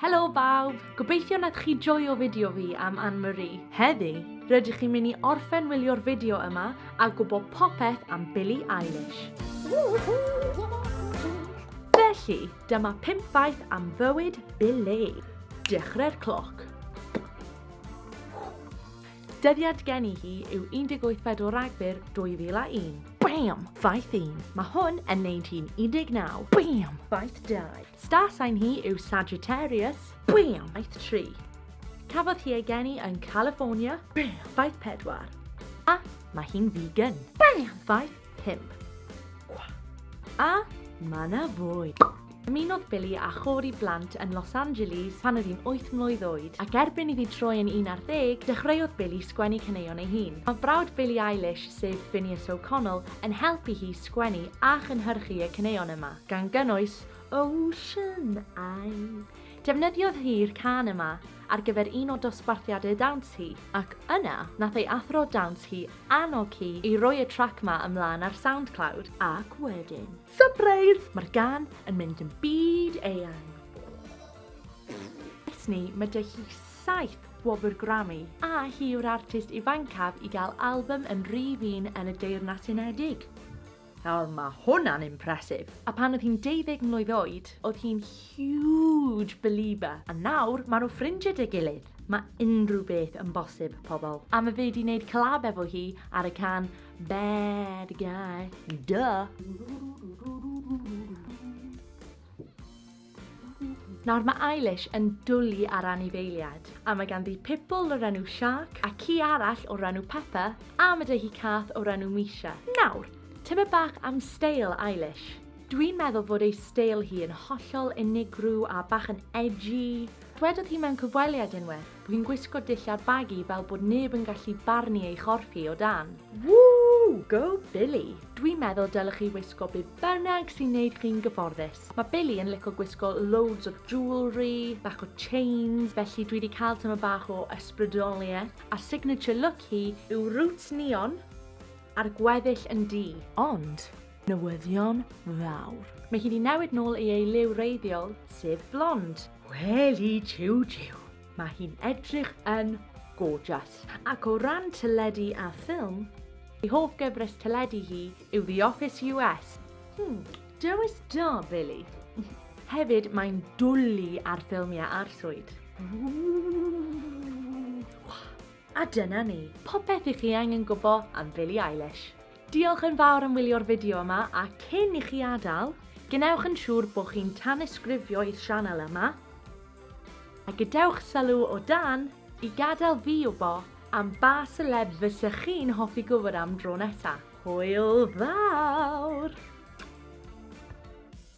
Helo bawb! Gobeithio nath chi joio fideo fi am Anne Marie. Heddi, rydych chi'n mynd i orffen wylio'r fideo yma a gwybod popeth am Billie Eilish. Felly, dyma 5 faith am fywyd Billie. Dechrau'r cloc. Dyddiad geni hi yw 18 o Ragfyr 2001. Bam! Faith 1. Mae hwn yn neud hi'n 19. Bam! Faith 2. Star sign hi yw Sagittarius. Bam! Faith 3. Cafodd hi ei geni yn California. Bam! Faith 4. A mae hi'n vegan. Bam! Faith 5. A mae na fwy. Ymunodd Billy a chôr i blant yn Los Angeles pan oedd hi'n 8 mlwydd oed, ac erbyn iddi troi yn 11, dechreuodd Billy sgwennu caneuon ei hun. Mae brawd Billy Eilish, sef Finneas O'Connell, yn helpu hi sgwennu a chynhyrchu y caneuon yma, gan gynnwys Ocean Eye. Defnyddiodd hi'r cân yma ar gyfer un o dosbarthiadau dawns hi, ac yna nath ei athro dawns hi annog hi i roi y trac 'ma ymlân ar Soundcloud, ac wedyn, sypreis! Mae'r gân yn mynd yn byd eang. Ers 'ny mae 'da hi saith gwobr Grammy, a hi yw'r artist ifancaf i gael albym yn rif un yn y Deyrnas Unedig. Nawr ma hwnna'n impressive! A pan oedd hi'n deuddeg mlwydd oed, oedd hi'n huge belieber. A nawr, ma nhw ffrindie 'da gilydd! Ma unrhyw beth yn bosib, pobl. A ma fe 'di neud collab efo hi ar y can Bad Guy. Duh! Nawr mae Eilish yn dwli ar anifeiliad, a mae ganddi pibl o'r enw Shark, a ci arall o'r enw Peppa, a ma 'da hi cath o'r enw Misha. Nawr, tybed bach am steil Eilish? Dwi'n meddwl fod ei steil hi yn hollol unigryw a bach yn edgy. Dwedodd hi mewn cyfweliad unwaith bod hi'n gwisgo dillad bagu fel bod neb yn gallu barnu ei chorff hi o dan. Woo! Go Billy! Dwi'n meddwl dylech chi wisgo be bynnag sy'n neud chi'n gyfforddus. Mae Billy yn lico gwisgo loads o jewellery, bach o chains, felly dwi wedi cael tyma bach o ysbrydoliaeth, a signature look hi yw roots neon a'r gweddill yn du. Ond, newyddion fawr. Mae hi wedi newid nôl i ei liw reiddiol, sef blond. Weli jiw jiw, mae hi'n edrych yn gorgeous. Ac o ran teledu a ffilm, ei hoff gyfres teledu hi yw The Office US. Hmm, Dewis da, Billy. Hefyd, mae'n dwlu ar ffilmiau arswyd. A dyna ni, popeth i chi angen gwybod am Billie Eilish. Diolch yn fawr am wylio'r fideo yma a cyn i chi adael, gwnewch yn siŵr bod chi'n tanysgrifio i'r sianel yma a gadewch sylw o dan i gadael fi wybod am ba seleb fysech chi'n hoffi gwybod am dro nesa. Hwyl fawr!